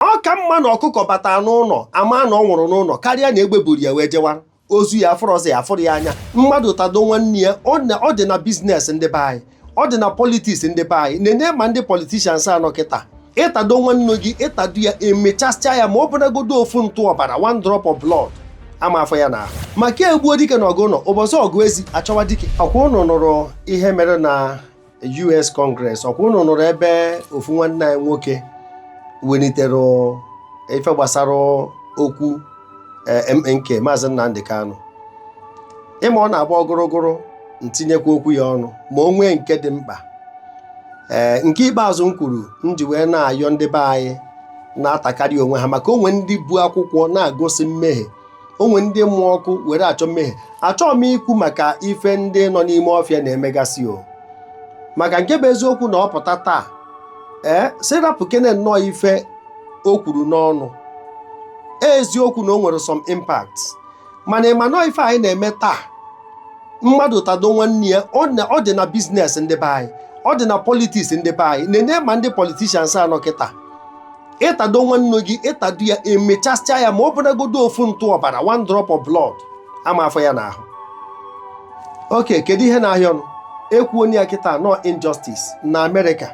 ọ ka mma na ọkụkọ bata n'ụlọ ama na ọ nwụrụ n'ụlọ karịa na egbe buru ya wee jewa ozu ya afụrọ ozu ya afụrọ ya anya mmadụ tado nwanne ya ọ dị na biznes ndị be anyị ọ dị na politiks ndị be anyị nene ma ndị politishans a nọ kịta ịtado nwanne gị ịtado ya emechasịa ya ma ọ bụnagodo ofu ntụ ọbara one drop of blood ama afọ ya n'ahụ maka egbuo dike na ọgụ ụlọ ụbọchị ọgụ ezi achọwa dike ọkwa ụnụ nụrụ ihe mere na US Congress ọkwa ụnụ nụrụ ebe ofu nwanne anyị nwoke welitere ife gbasara okwu e, MNK Maazị Nnamdi Kanu ịma ọ na-agba ogorogoro ntinyekwa okwu ya ọnụ ma o nwee nke dị mkpa ee eh, nke ikpeazụ m kwuru m ji wee na-ayọ ndị be anyị na-atakarị onwe ha maka o nwere ndị bu akwụkwọ na-agosi mmehie o nwere ndị mụ ọkụ were achọ mmehie achọghị m ikwu maka ife ndị nọ n'ime ọfịa na-emegasị o maka nke bụ eziokwu na ọ pụta taa ee sị rapụkene nnọọ ife o kwuru n'ọnụ eziokwu na o nwere some impact mana ịma nọọ ife anyị na-eme taa mmadụ tado nwanne ya ọ na- ọ dị na biznes ndị be anyị ọ dị na politiks ndị be anyị nene ma ndị politishans a nọ kịta ịtado nwanne gị ịtado ya emechasịa ya ma ọ bụnagodo ofu ntụ ọbara one drop of blood ama afọ ya n'ahụ oke kedu ihe na-ahịa ọnụ ekwu onye ya kịta nọ injustice na amerịka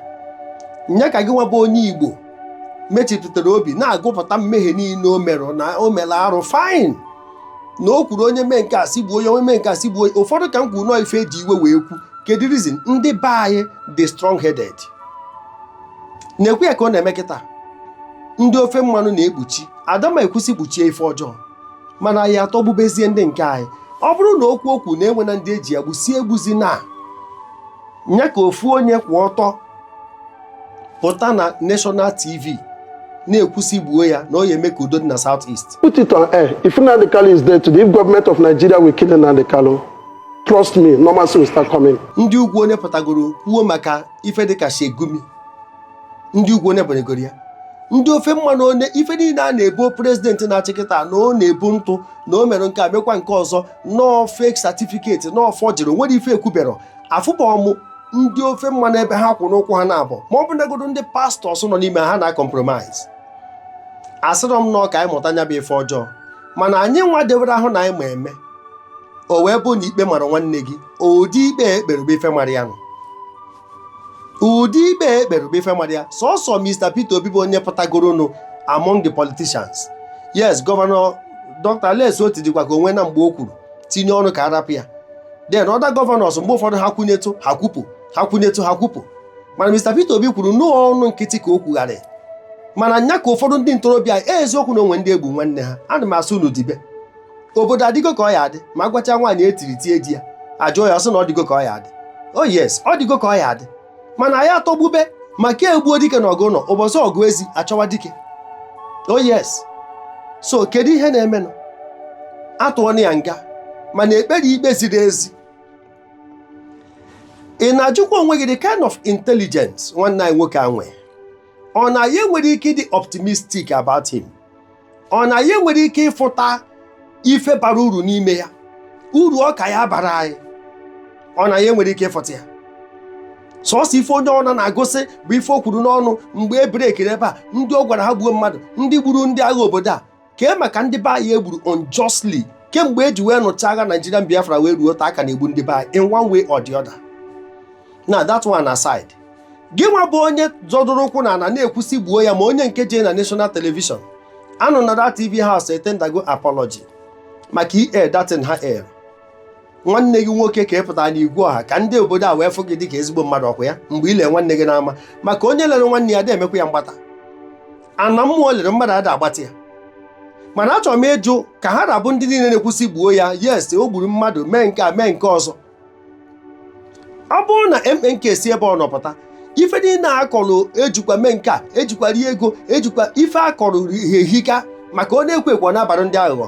nya ka gị nwa bụ onye igbo mechipụtara obi na-agụpụta mmehie niile o mere na o mere arụ fine na o kwuru onye mee nke a sị gbuo onye onye mee nke a sị gbuo ụfọdụ ka m kwuru nọọ ife eji iwe wee kwu kedu reason ndị be anyị dị strong headed na-ekwu ya ka ọ na-eme kịta ndị ofe mmanụ na-ekpuchi ada m ekwu sị kpuchie ife ọjọọ mana anyị atọgbubezie ndị nke anyị ọ bụrụ na okwu okwu na-enwe na ndị eji egbu si egbuzi na nya ka ofu onye kwụ ọtọ pụta na national tv na-ekwu sị gbuo ya na ọ ya eme ka udo dị na south east Put it on air. If Nnamdi Kanu is dead today, if government of Nigeria will kill Nnamdi Kanu, trust me, normalcy will start coming. ndị ugwu onye pụtagoro kwuo maka ife dịka Sheikh Gumi ndị ugwu onye banyegoro ya ndị ofe mmanụ onye ife niile a na-ebo prezidenti na-achị kịta na ọ na-ebu ntụ na o mere nke a mekwa nke ọzọ nọọ fake satifiketi nọọ fọjiri nwere ife ekwubero afụbọ mụ ndị ofe mmanụ ebe ha kwụ n'ụkwụ ha na-abụ ma ọ bụnagodo ndị pastọs nọ n'ime ha na kọmpromise asịrọ m nọọ ka anyị mụta nya bụ ife ọjọọ mana anyị nwa dewere ahụ na anyị ma eme o wee bụ na ikpe mara nwanne gị ụdị ikpe ekpere bụ ife mara ya nụ ụdị ikpe ekpere bụ ife mara ya sọsọ Mr. Peter Obi bụ onye pụtagoronụ among the politicians yes gọvanọ Dr. Alex Otti dịkwa ka o nwena mgbe o kwuru tinye ọnụ ka a rapụ ya then other governors mgbe ụfọdụ ha kwụnyetụ ha kwupụ ha kwụnyetụ ha kwupụ mana Mr. Peter Obi kwuru n'ọnụ nkịtị ka o kwugharị mana nya ka ụfọdụ ndị ntorobịa eziokwu na o nwe ndị egbu nwanne ha ana m asị unu dibe obodo adịgo ka ọ ya adị ma agwacha nwaanyị etiri tie di ya ajụọ ya ọ sị na ọ dịgo ka ọ ya adị o oh yes ọ dịgo ka ọ ya adị mana anyị atọgbube maka egbuo dike na ọgụ ụnọ ụbọchị ọgụ ezi achọwa dike o oh yes so kedu ihe na-emenụ atụọna ya nga mana ekpere ikpe ziri ezi ị na-ajụkwa onwe gị the kind of intelligence nwanne anyị nwoke a nwee ọ na anyị enwerọ ike ịdị optimistic about him ọ na anyị enwerọ ike ịfụta ife bara uru n'ime ya uru ọ ka ya bara anyị ọ na anyị enwerọ ike ịfụta ya sọsọ ife onye ọna na-agụsị bụ ife o kwuru n'ọnụ mgbe e brekiri ebe a ndị ọ gwara ha gbuo mmadụ ndị gburu ndị agha obodo a kee maka ndị be anyị egburu unjustly kemgbe eji wee nụcha agha Nigerian Biafra wee ruo taa a ka na-egbu ndị be anyị in one way or the other now that one aside gị nwa bụ onye zọdụrụ ụkwụ na ana na-ekwusi gbuo ya ma onye nke jee na national television anụ na that tv house etendago apology maka air that thing ha air nwanne gị nwoke ka ị pụtara n'igwe ọha ka ndị obodo a wee fụ gị dịka ezigbo mmadụ ọkwa ya mgbe ị lere nwanne gị n'ama maka onye lere nwanne ya na-emekwa ya mgbata ana mmụọ lere mmadụ ada agbata ya mana achọrọ m ịjụ ka ha ra bụ ndị niile na-ekwusi gbuo ya yes o gburu mmadụ mee nke a mee nke ọzọ ọ bụrụ na MNK si ebe ọ nọ pụta ife niile akọrọ ejikwa mee nke a ejikwa rie ego ejikwa ife akọrọ ehika maka ọ na-ekwo ekwo na-abara ndị aghụghọ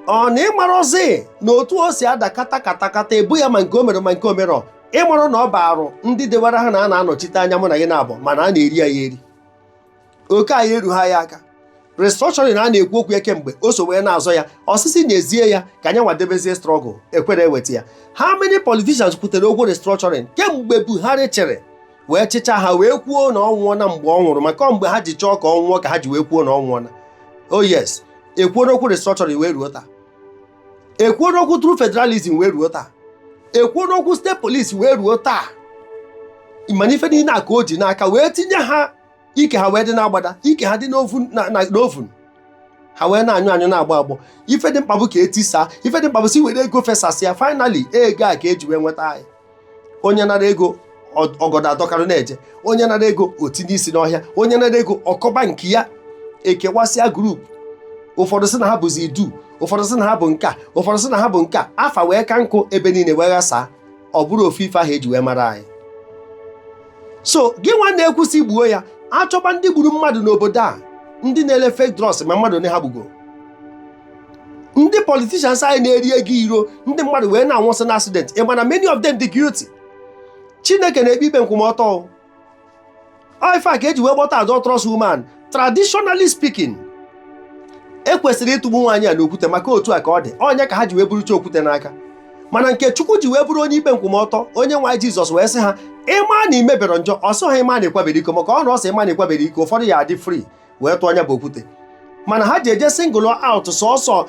ọ na ị marọzi na otu o si ada kata kata kata ebo ya ma nke o mere ma nke o merọ ị marọ na ọ baarụ ndị dewara ha na a na-anọchite anya mụ na gị naabọ mana a na-eri ya eri oke anyị eruha anyị aka restructuring a na-ekwu okwu ya kemgbe o so wee na-azọ ya ọ sị sị nyezie ya ka anyị nwa debezie struggle ekwerọ eweta ya how many politicians kwutere okwu restructuring kemgbe Buhari chịrị wee chịcha ha wee kwuo na ọ nwụọna mgbe ọ nwụrụ maka mgbe ha ji chọọ ka ọ nwụọ ka ha ji wee kwuo na ọ nwụọna o oh yes ekwuona okwu restructuring wee ruo taa ekwuona okwu true federalism wee ruo taa ekwuona okwu state police wee ruo taa mana ife niile a ka o ji n'aka wee tinye ha ike ha wee dị n'agbada ike ha dị n'oven ha wee na-anyụ anyụ na-agbọ agbọ ife dị mkpa bụ ka etisaa ife dị mkpa bụ sị were ego fesasịa finally ego a ka eji wee nweta anyị onye nara ego ọgọdọ adọkarị na-eje onye nara ego o tinye isi n'ọhịa onye nara ego ọ kọba nke ya ekewasịa group ụfọdụ sị na ha bụzi idu ụfọdụ sị na ha bụ nka ụfọdụ sị na ha bụ nka afa wee ka nkụ ebe niile wee ghasaa ọ bụrụ ofu ife ahụ eji wee mara anyị so gị nwa na-ekwu sị gbuo ya achọba ndị gburu mmadụ n'obodo a ndị na-ele fake drugs ma mmadụ one ha gbugo ndị politicians anyị na-eri ego iro ndị mmadụ wee na-anwụsị na accident ị ma na many of them dị guilty chineke na-ekpe ikpe nkwụmọtọ ife a ka eji wee kpọta adulterous woman traditionally speaking ekwesịrị ịtụgbu nwaanyị a n'okwute maka otu a ka ọ dị ọ nya ka ha ji wee burucha okwute n'aka mana nke chukwu ji wee bụrụ onye ikpe nkwụmọtọ onyenwe anyị jizọs wee sị ha ịma na imebere njọ ọ sịrọ ha ịma na ịkwabere iko maka ọ na ọ sị ịma na ịkwabere iko ụfọdụ ya adị free wee tụọ nya bụ okwute mana ha ji eje single out sọsọ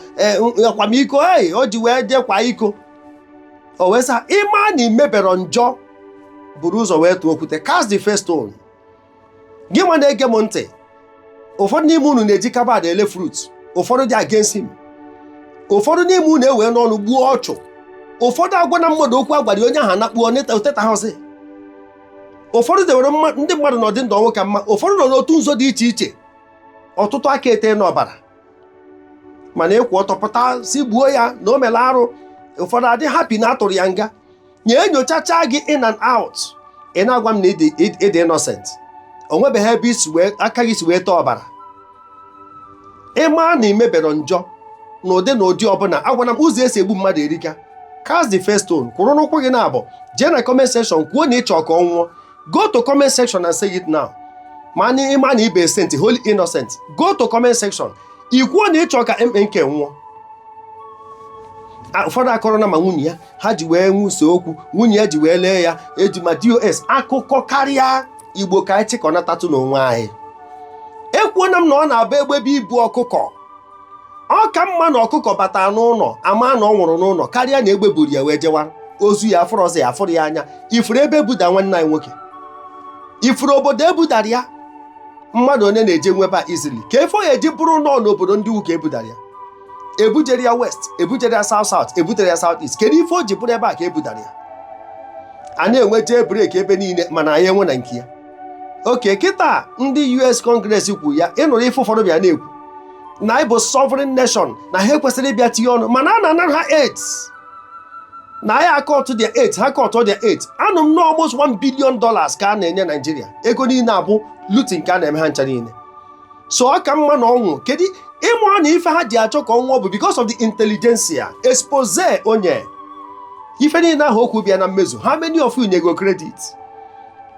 akwamiko ei o ji wee jee kwa iko o wee sị ha ịma na imebere njọ buru ụzọ wee tụọ okwute cast the first stone gị nwa na-ege m ntị ụfọdụ n'ime unu na-eji carbide ele fruit ụfọdụ dị against him ụfọdụ n'ime unu eweena ọnụ gbuo ọchụ ụfọdụ agwaana mmadụ okwu agwara onye ahụ anakpuo o tetahọzị ụfọdụ dewere ndị mmadụ n'ọdị ndụ ọnwụ ka mma ụfọdụ nọ n'otu nzọ dị iche iche ọtụtụ aka eteena ọbara mana ịkwụ ọtọ pụta sị gbuo ya na o mere arụ ụfọdụ adị happy na atụrụ ya nga nye enyochacha gị in and out ị na-agwa m na ịdị innocent o nwebeghị ebe isi wee aka gị si wee tee ọbara ịma na ị mebere njọ na ụdị na ụdị ọbụla agwana m ụzọ esi egbu mmadụ erika cast the first stone kwụrụ n'ụkwụ gị naabụ jee na comment section kwuo na ịchọ ka ọ nwụọ go to comment section and say it now ma na ịma na ị bụ saint holy innocent go to comment section ikwuo na ịchọ ka mnk nwụọ ụfọdụ akọrọ na ma nwunye ya ha ji wee nwuso okwu nwunye ya ji wee lee ya eji ma dos akụkọ karịa igbo ka anyị chịkọnatatụ n'onwe anyị ekwuona m na ọ na-abụ egbe bịa ibu ọkụkọ ọ ka mma na ọkụkọ bata n'ụlọ ama na ọ nwụrụ n'ụlọ karịa na egbe buru ya wee jewa ozu ya afụrụ ọzọ ya afụrụ ya anya ifuru ebe ebudara nwanne anyị nwoke ifuru obodo ebudara ya mmadụ onye na-eje nweba izili ka efo ya eji bụrụ nọọ n'obodo ndị uka ebudara ya ebujere ya west ebujere ya south south ebutere ya south east kedu ife o ji bụrụ ebe a ka ebudara ya a na-enwe jail break ebe niile mana anyị enwe na nke ya okay kịta ndị us congress kwu ya ịnụrụ ife ụfọdụ bịa na-ekwu na anyị bụ sovereign nation na ha ekwesịrị ịbịa tinye ọnụ mana a na-anara ha aids na anyị akọtụ their aid ha kọtụ their aid anụ m na almost 1 billion dollars ka a na-enye Naijiria ego niile a bụ looting ka a na-eme ha ncha niile so ọ ka mma na ọnwụ kedu ị ma na ife ha ji achọ ka ọ nwụọ bụ because of the intelligentsia expose onye ife niile ahụ o kwu bịa na mmezu how many of you nyego credit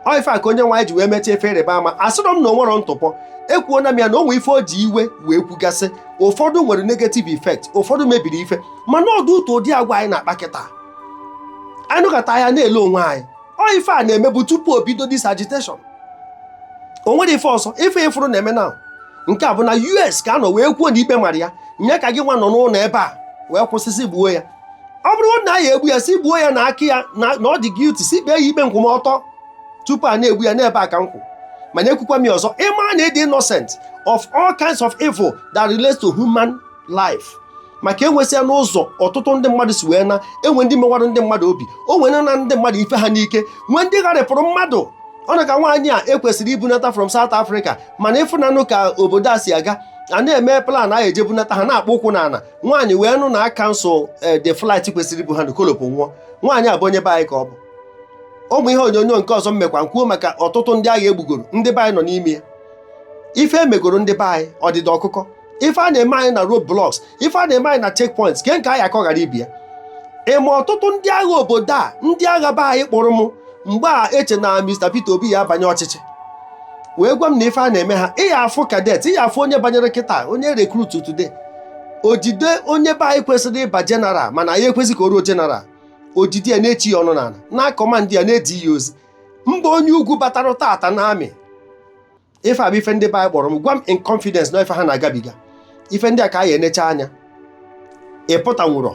ọ ife a ka onye nwe anyị ji wee mechaa ife ịrịba ama asịrọ m na o nwerọ ntụpọ ekwuona m ya na o nwe ife o ji iwe wee kwugasị ụfọdụ nwere negative effect ụfọdụ mebiri ife mana ọ dị ụtọ ụdị agwa anyị na-akpa kịta anyị nọkata a na-ele onwe anyị ọ ife a na-emebu tupu o bido this agitation o nwere ife ọzọ ife ị fụrụ na-eme na nke a bụ na US ka a nọ wee kwuo na ikpe mara ya ya ka gị nwa nọ n'ụlọ ebe a wee kwusi sị gbuo ya ọ bụrụ na a ya-egbu ya sị gbuo ya na aka ya na ọ dị guilty sị kpee ya ikpe nkwụmọtọ tupu a na-egbu ya n'ebe a ka m kwụ mana ekwukwa m ya ọzọ ị ma na ị dị innocent of all kinds of evil that relates to human life maka enwesịa n'ụzọ ọtụtụ ndị mmadụ si wee na e nwe ndị mewara ndị mmadụ obi o nwe ndị nara ndị mmadụ ife ha n'ike nwee ndị gharịpụrụ mmadụ ọ na ka nwaanyị a e kwesịrị ibunata from South Africa mana ị fụnanụ ka obodo a si aga a na-eme plan a eje bunata ha na-akpụ ụkwụ n'ala nwaanyị wee nụ na a cancel eh, the flight kwesịrị ibu ha ọ collapse nwụọ nwaanyị a bụ onye be anyị ka ọ bụ ụmụ ihe onyonyo nke ọzọ m mekwa kwuo maka ọtụtụ ndị agha e gbugoro ndị be anyị nọ n'ime ya ife e megoro ndị be anyị ọdịda ọkụkọ ife a na-eme anyị na road blocks ife a na-eme anyị na checkpoints ke nke a ya-akọ ghara ibe ya ị ma ọtụtụ ndị agha obodo a ndị agha be anyị kpọrọ m mgbe e che na Mr. Peter Obi ya-abanye ọchịchị wee gwa m na ife a na-eme ha ị ya-afụ cadet ị ya-afụ onye banyere kịta onye recruit today o jide onye be anyị kwesịrị ịbụ general mana anaghị ekwezi ka o ruo general o jide ya na-echi ya ọnụ n'ala na-command ya na-ezi ya ozi mba onye ugwu batara tata na army ife a bụ ife ndị be anyị kpọrọ m gwa m in confidence na ife ha na-agabiga ife ndị a ka ị ya-enecha anya ị pụtanwurọ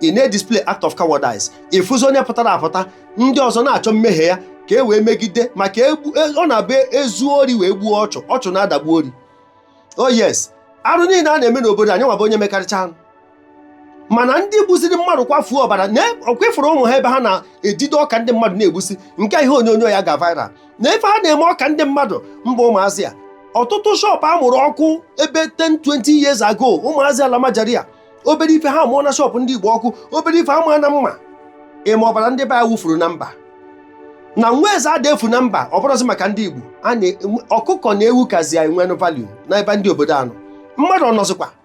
ị na-edisplay act of cowardice ị fụzi onye pụtara apụta ndị ọzọ na-achọ mmehie ya ka e wee megide maka egbu- e- ọ na-abụ e zuo ori wee gbuo ọchụ ọchụ na-adagbu ori oh yes arụ niile a na-eme n'obodo anyị nwa bụ onye mekarịcha arụ mana ndị gbuziri mmadụ kwafuo ọbara na ọ kwa ị fụrụ ụmụ ha ebe ha na-ejide ọka ndị mmadụ na-egbusi nke ihe onyonyo ya ga viral na ife ha na-eme ọka ndị mmadụ mba ụmụazị a ọtụtụ shop a mụrụ ọkụ ebe 10 20 years ago ụmụazị almajiri a obere ife ha mụọ na shop ndị igbo ọkụ obere ife ama na mma ị ma ọbara ndị be anyị wufuru na mba na nwa eze ada efu na mba ọ bụrụzi maka ndị igbo ọkụkọ na ewu kazi anyị nwere value n'ebe ndị obodo a nọ mmadụ ọ nọzikwa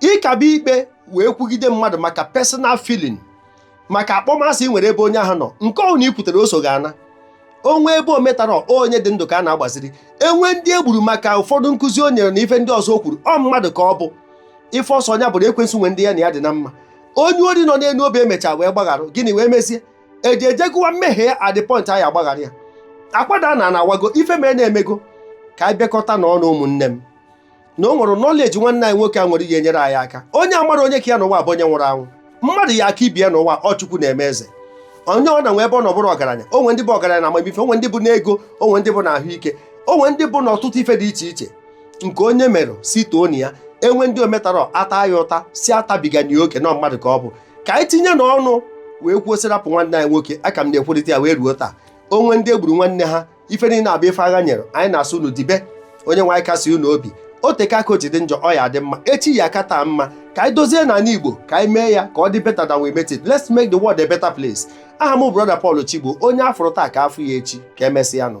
ịkaba ikpe wee kwugide mmadụ maka personal feeling maka akpọmasị i nwere ebe onye ahụ nọ nke ọbụna i kwutere o so gị ana o nwee ebe o metara onye dị ndụ ka a na-agbaziri e nwee ndị e gburu maka ụfọdụ nkụzi o nyere na ife ndị ọzọ o kwuru ọ mmadụ ka ọ bụ ife ọ sọ nya bụrụ ekwensu nwe ndị ya na ya dị na mma onye ori nọ n'elu obe e mechaa wee gbaghara gịnị wee mezie e ji eje gụwa mmehie ya at the point anyị agbaghara ya akwa daa n'ana awago ife merenụ emego ka anyị bịakọta n'ọnụ ụmụnne m na o nwere knowledge nwanne anyị nwoke a nwere ihe enyere anyị aka onye amarọ onye ka ya n'ụwa bụ onye nwụrụ anwụ mmadụ ya aka ibe ya n'ụwa ọ Chukwu na-eme eze onye ọbụna nwe ebe ọ nọ bụrụ ọgaranya o nwee ndị bụ ọgaranya na amamife o nwee ndị bụ n'ego o nwee ndị bụ na ahụike o nwee ndị bụ n'ọtụtụ ife dị iche iche nke onye mere sị toonụ ya e nwee ndị o metarọ a taa ya ụta sị atabigana oke na mmadụ ka ọ bụ ka anyị tinye n'ọnụ wee kwuo sị rapụ nwanne anyị nwoke aka m na-ekwurịta ya wee ruo taa o nwee ndị e gburu nwanne ha ife niile a bụ ife agha nyere anyị na-asị unu dibe onye nwe anyị kasie unu obi o teka aka o ji dị njọ ọ ya adị mma echi ya aka taa mma ka anyị dozie n'ala Igbo ka anyị mee ya ka ọ dị better than we met it let's make the world a better place aha m brọda Paul Chigbo onye a fụrụ taa ka a fụ ya echi ka emesịa nụ